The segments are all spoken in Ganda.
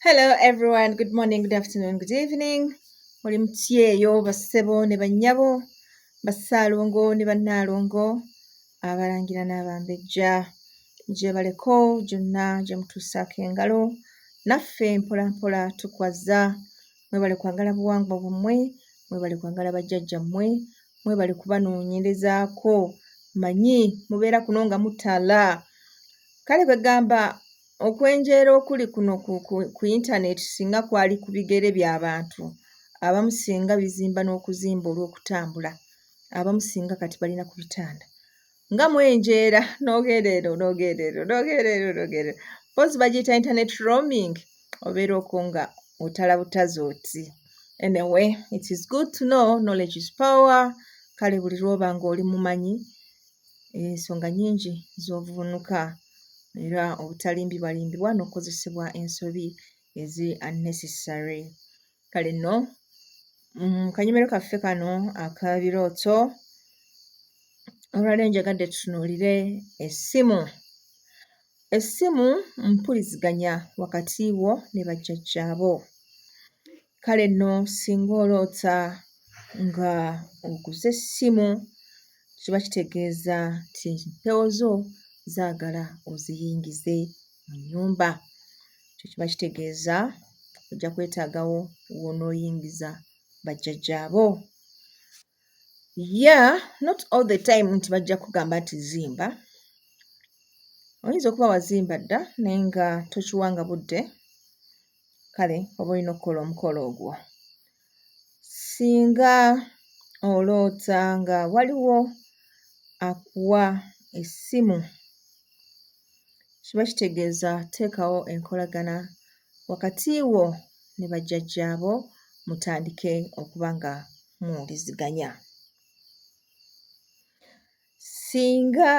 Hello everyone, good morning, good afternoon, good evening. Oli mutyeyo bassebo ne bannyabo, bassaalongo ne bannaalongo, abalangira n'abambejja. Gyebaleko gyonna gye mutuusaako engalo, naffe mpola mpola tukwazza. Mwebale kwagala buwangwa bwammwe, mwebale kwagala bajjajjammwe, mwebale kubanoonyerezaako. Manyi mubeera kuno nga mutala. Kale kwegamba Okwenjeera okuli kuno ku, ku, ku yintaneeti singa kwali ku bigere bya bantu abamu singa bizimba n'okuzimba olw'okutambula abamu singa kati balina ku bitanda nga mwenjeera n'ogenda eno n'ogenda eno n'ogenda eno n'ogenda eno mpozi bagiyita internet roaming obeera oko nga otala butazi oti anyway it is good to know knowledge is power kale buli lwoba ng'oli mumanyi ensonga nyingi z'ovvuunuka era obutalimbibwalimbibwa n'okukozesebwa ensobi ezi unnecessary kale nno mm, kanyomero kaffe kano akabirooto olwaleero njagadde tutunuulire essimu essimu mpuliziganya wakati wo ne bajjajjaabo Kale nno singa oloota nga oguze essimu kiba kitegeeza nti empewo zo zaagala oziyingize mu nnyumba. Ekyo kiba kitegeeza ojja kwetaagawo w'onooyingiza bajjajjaabo. Yeah, not all the time nti bajja kugamba nti zimba. Oyinza okuba wazimba dda naye nga tokiwanga budde, kale oba olina okukola omukolo ogwo. Singa oloota nga waliwo akuwa essimu, kiba kitegeeza teekawo enkolagana wakati wo ne bajjajjaabo mutandike okuba nga muwuliziganya. Singa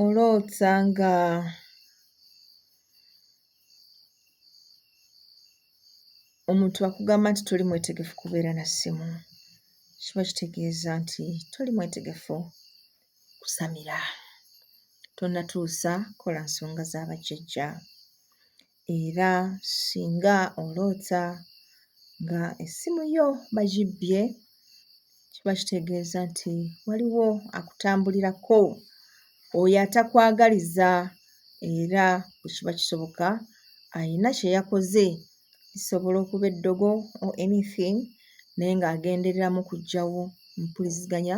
oloota nga omuntu akugamba nti toli mwetegefu kubeera na ssimu, kiba kitegeeza nti toli mwetegefu kusamira. Tonnatuusa kola nsonga za bajjajja. era singa oloota nga essimu yo bagibbye kiba kitegeeza nti waliwo akutambulirako oyo atakwagaliza era bwe kiba kisoboka alina kye yakoze lisobola okuba eddogo or anything naye ng'agendereramu kuggyawo mpuliziganya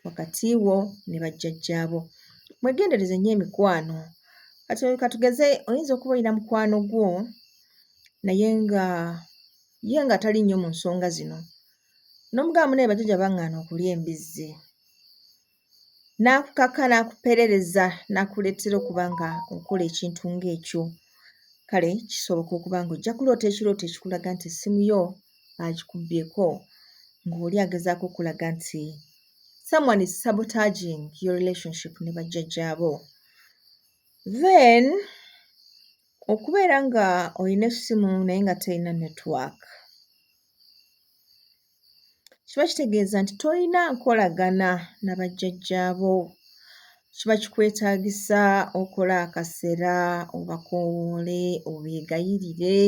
wakati wo ne bajjajjaabo. Mwegendereze nnyo emikwano. Kati katugeze oyinza okuba olina mukwano gwo naye nga ye nga tali nnyo mu nsonga zino n'omugambo naye bajjajja baŋŋaana okulya embizzi n'akukaka n'akuperereza n'akuleetera okuba nga okola ekintu ng'ekyo kale kisoboka okuba ng'ojja kuloota ekirooto ekikulaga nti essimu yo agikubyeko ng'oli agezaako okulaga nti someone is sabotaging your relationship ne bajjajjaabo then okubeera nga olina essimu naye nga terina network kiba kitegeeza nti tolina nkolagana na bajjajjaabo kiba kikwetaagisa okola akasera obakowoole obeegayirire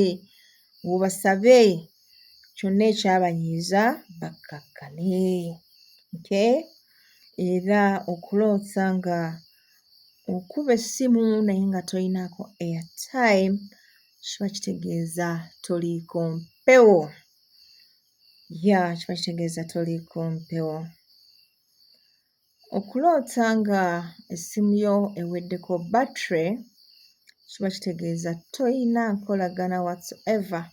obasabe kyonna ekyabanyiiza bakkakkane okay era okuloota nga okuba essimu naye nga tolinaako airtime kiba kitegeeza toliiko mpewo ya kiba kitegeeza toliiko mpewo Okuloota nga essimu yo eweddeko battery kiba kitegeeza toyina nkolagana whatsoever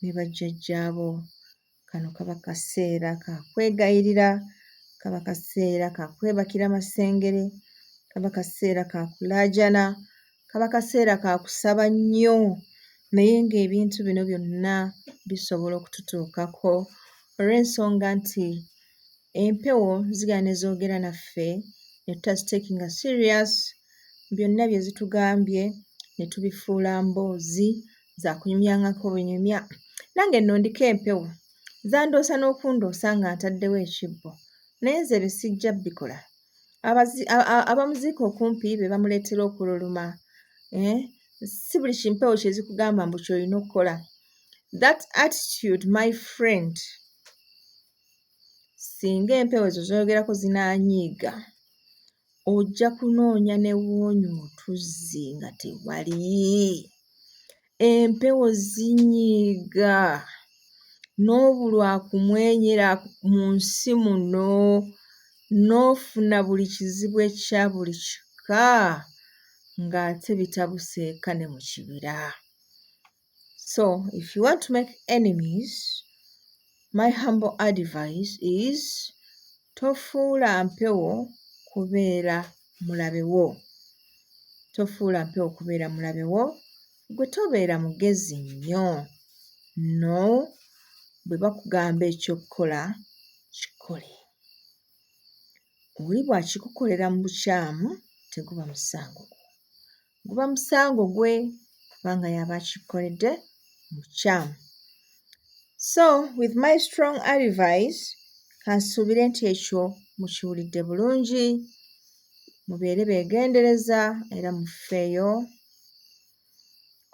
ne bajjajjaabo. Kano kaba kaseera ka kwegayirira, kaba kaseera ka kwebakira masengere, kaba kaseera ka kulaajana, kaba kaseera ka kusaba nnyo naye ng'ebintu bino byonna bisobola okututuukako olw'ensonga nti empewo zigala ne zoogera naffe ne tutaziteekinga serious byonna bye zitugambye ne tubifuula mboozi za kunyumyangako bunyumya nange nno ndiko empewo zandoosa n'okundoosa nga ntaddewo ekibbo naye nze ebyo sijja bikola abamuziika okumpi be bamuleetera okululuma eh? si buli kimpewo kyezikugamba mbu kyolina okukola that attitude my friend singa empewo ezo zoyogerako zinanyiiga ojja kunoonya newoonya otuzzi nga tewali empewo zinyiiga n'obulwa kumwenyera mu nsi muno n'ofuna buli kizibu ekya buli kika ng'ate bitabuseeka ne mu kibira so if you want to make enemies my humble advice is tofuula mpewo kubeera mulabe wo tofuula mpewo kubeera mulabe wo gwe tobeera mugezi nnyo no bwe bakugamba ekyokukola kikole oli bw'akikukolera mu bukyamu teguba musango gwo guba musango gwe kubanga yaba akikoledde mukyamu so with my strong advice kansuubire nti ekyo mukiwulidde bulungi mubeere beegendereza era mufeeyo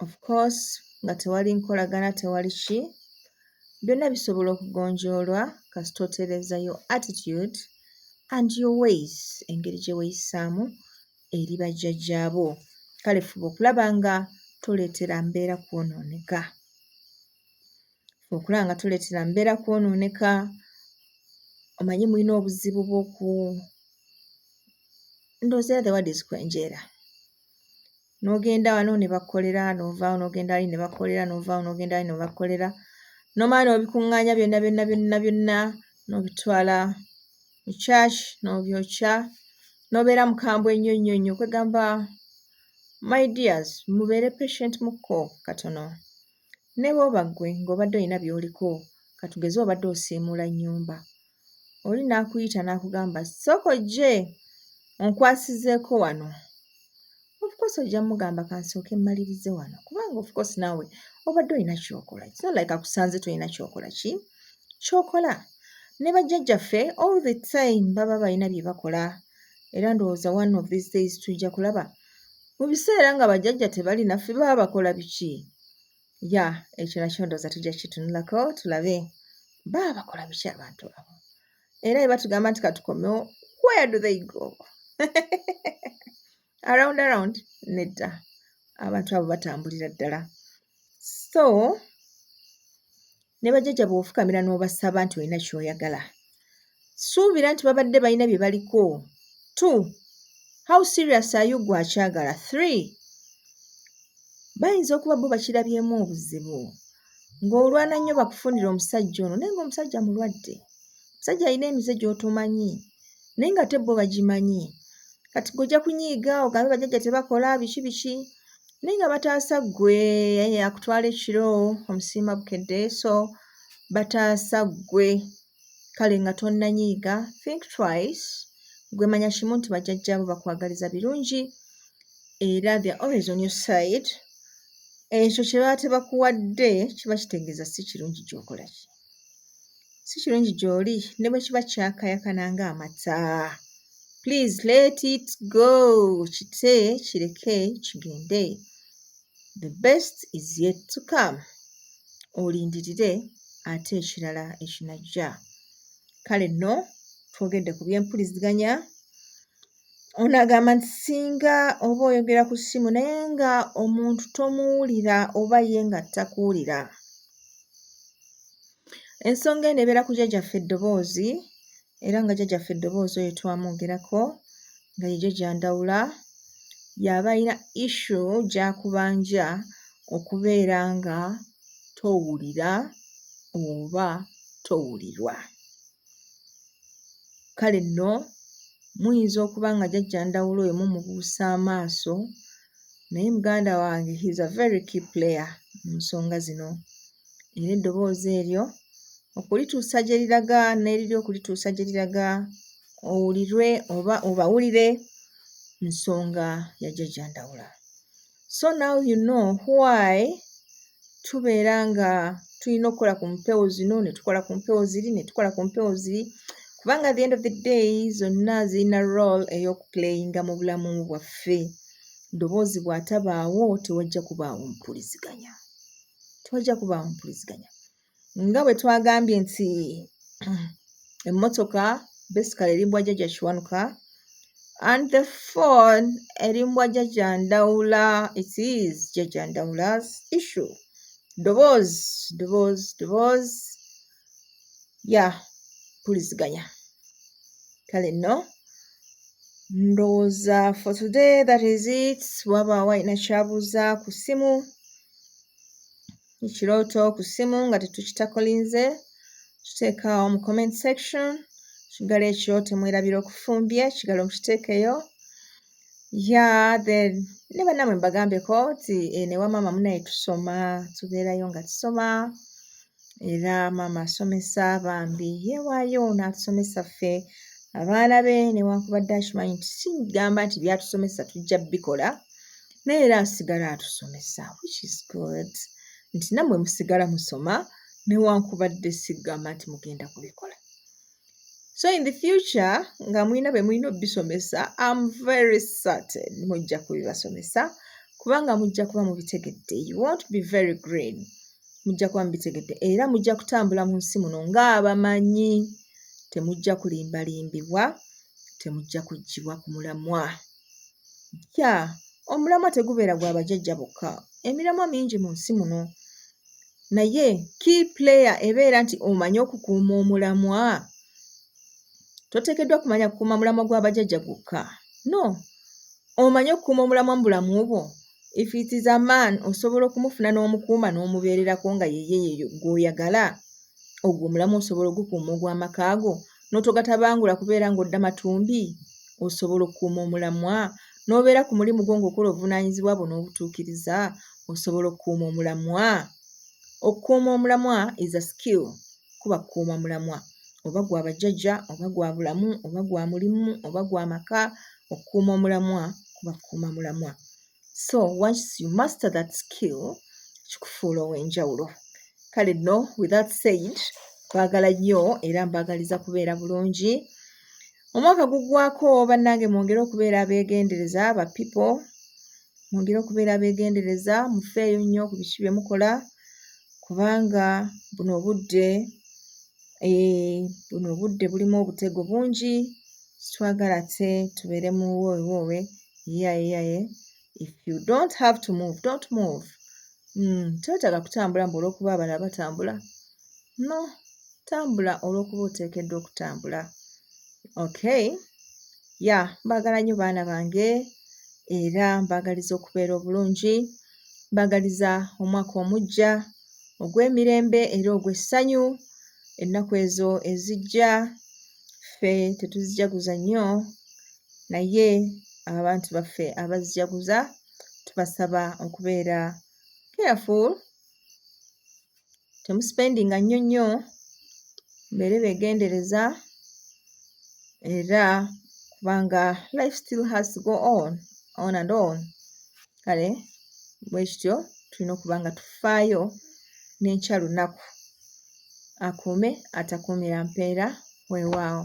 of course nga tewali nkolagana tewali ki byonna bisobola okugonjoolwa kasita otereeza yo attitude and your ways engeri gye weeyisaamu eri bajjajjaabo. Kale fuba okulaba nga toleetera mbeera kwonooneka. Okulaba nga toleetera mbeera kwonooneka, omanyi mulina obuzibu bw'oku ndowooza the word is kwenjeera. N'ogenda wano ne bakukolera, n'ovaawo n'ogenda wali ne bakukolera, n'ovaawo n'ogenda wali ne bakukolera, n'omala n'obikuŋŋaanya byonna byonna byonna byonna n'obitwala mu church nobyokya nobeera mukambwe nnyo nnyo nnyo kwegamba my dears mubeere patient mukko katono ne bwoba ggwe ng'obadde olina byoliko katugeze obadde osiimuula nnyumba oli n'akuyita n'akugamba sooka ojje onkwasizeeko wano of course ojja mugamba kansooke mmalirize wano kubanga of course naawe obadde olina kyokola it's not like akusanze tolina kyokola ki kyokola ne bajjajjaffe all the time baba balina bye bakola era ndowooza one of these days tujja kulaba mu biseera nga bajjajja tebali naffe baba bakola biki ya ekyo nakyo ndowooza tujja kitunulako tulabe baba bakola biki abantu abo era bwe batugamba nti katukomewo where do they go around around nedda abantu abo batambulira ddala so ne bajjajja bw'ofukamira n'obasaba nti olina ky'oyagala suubira nti babadde balina bye baliko two how serious are you gwe akyagala three bayinza okuba bo bakirabyemu obuzibu ng'olwana nnyo bakufunire omusajja ono naye ng'omusajja mulwadde omusajja alina emize gy'otomanyi naye nga te bo bagimanyi kati gojja kunyiiga ogambe bajajja tebakola biki biki naye nga bataasa ggwe akutwala ekiro omusiima bukedde so bataasa ggwe kale nga tonnanyiiga think twice gwe manya kimu nti bajjajjaabo bakwagaliza birungi era they're always on your side ekyo kye baate bakuwadde kiba kitegeeza si kirungi gyokola ki si kirungi gyoli ne bwe kiba kyakayakana nga amata please let it go kite kireke kigende the best is yet to come olindirire ate ekirala ekinajja kale nno twogedde ku byempuliziganya ono agamba nti singa oba oyogera ku ssimu naye nga omuntu tomuwulira oba ye nga takuwulira ensonga eno ebeera ku jjajaffe eddoboozi era nga jjajja ffe eddoboozi oyo twamwogerako nga ye jjajja ndawula yaba alina issu gyakubanja okubeera nga towulira oba towulirwa kale nno muyinza okuba nga jjajja ndawula oyo mumubuusa amaaso naye muganda wange he's a very key player mu nsonga zino era eddoboozi eryo okulituusa gye liraga n'eriri okulituusa gye liraga owulirwe oba obawulire nsonga ya jajja ndawula so now you know why tubeera nga tulina okukola ku mpewo zino ne tukola ku mpewo ziri ne tukola ku mpewo ziri kubanga the end of the day zonna zirina role ey'okuplayinga mu bulamu bwaffe ddoboozi bw'atabaawo tewajja kubaawo mpuliziganya tewajja kubaawo mpuliziganya nga bwe twagambye nti emmotoka basically erimbwa jjajja kiwanuka and the phone erimbwa jjajja ndawula it is jjajja ndawula's issue ddoboozi ddoboozi ddoboozi ya puliziganya kale nno ndowooza for today that is it waba walina kyabuuza ku ssimu ekirooto ku ssimu nga tetukitakolinze kiteekaawo mu comment section kigalo ekyo temwerabira okufumbye kigalo mukiteekeyo ya then ne bannamwe mbagambeko nti eh, newa maama munaye tusoma tubeerayo nga tusoma era maama asomesa bambi yewaayo n'atusomesa ffe abaana be newankubadde akimanyi nti sigamba nti byatusomesa tujja bikola naye era asigala atusomesa which is good nti nammwe musigala musoma newankubadde sigamba nti mugenda kubikola so in the future nga mulina be mulina obisomesa am very certain mujja kubibasomesa kubanga mujja kuba mubitegedde you won't be very green mujja kuba mubitegedde era mujja kutambula mu nsi muno ng'abamanyi temujja kulimbalimbibwa temujja kuggyibwa ku mulamwa kya omulamwa tegubeera gwa bajajja bokka emiramwa mingi mu nsi muno naye key player ebeera nti omanyi okukuuma omulamwa toteekeddwa kumanya kukuuma mulamwa gwa bajajja gwokka no omanyi okukuuma omulamwa mu bulamu bwo If it is a man osobola okumufuna n'omukuuma n'omubeererako nga yeye yeyo gw'oyagala ogwo omulamu osobola ogukuuma ogw'amaka go n'otogatabangula kubeera ng'odda matumbi osobola okukuuma omulamwa n'obeera ku mulimu gwo ng'okola obuvunaanyizibwa bwo n'obutuukiriza osobola okukuuma omulamwa okukuuma omulamwa is a skill kuba kukuuma mulamwa oba gwa bajjajja oba gwa bulamu oba gwa mulimu oba gwa maka okukuuma omulamwa kuba kukuuma mulamwa so once you master that skill kikufuula ow'enjawulo kale no with that said baagala nnyo era mbaagaliza kubeera bulungi omwaka guggwako bannange mwongere okubeera abeegendereza ba pipo mwongere okubeera abeegendereza mufeeyo nnyo ku biki bye mukola kubanga buno obudde Eh, buno obudde bulimu obutego bungi sitwagala te tubeere mu woowewoowe yayeyaye if you don't have to move don't move mm, twetaaga kutambula mbu olwokuba abala batambula no tambula olwokuba oteekeddwa okutambula okay ya mbaagala nnyo baana bange era mbaagaliza okubeera obulungi Mbagaliza omwaka omuggya ogw'emirembe era ogw'essanyu. Ennaku ezo ezijja ffe tetuzijaguza nnyo, naye abantu baffe abazijaguza tubasaba okubeera careful. temusipendinga nnyo nnyo mbeere begendereza era kubanga life still has to go on on and on kale bwekityo tulina okuba nga tufaayo n'enkya lunaku akuume atakuumira mpeera weewaawo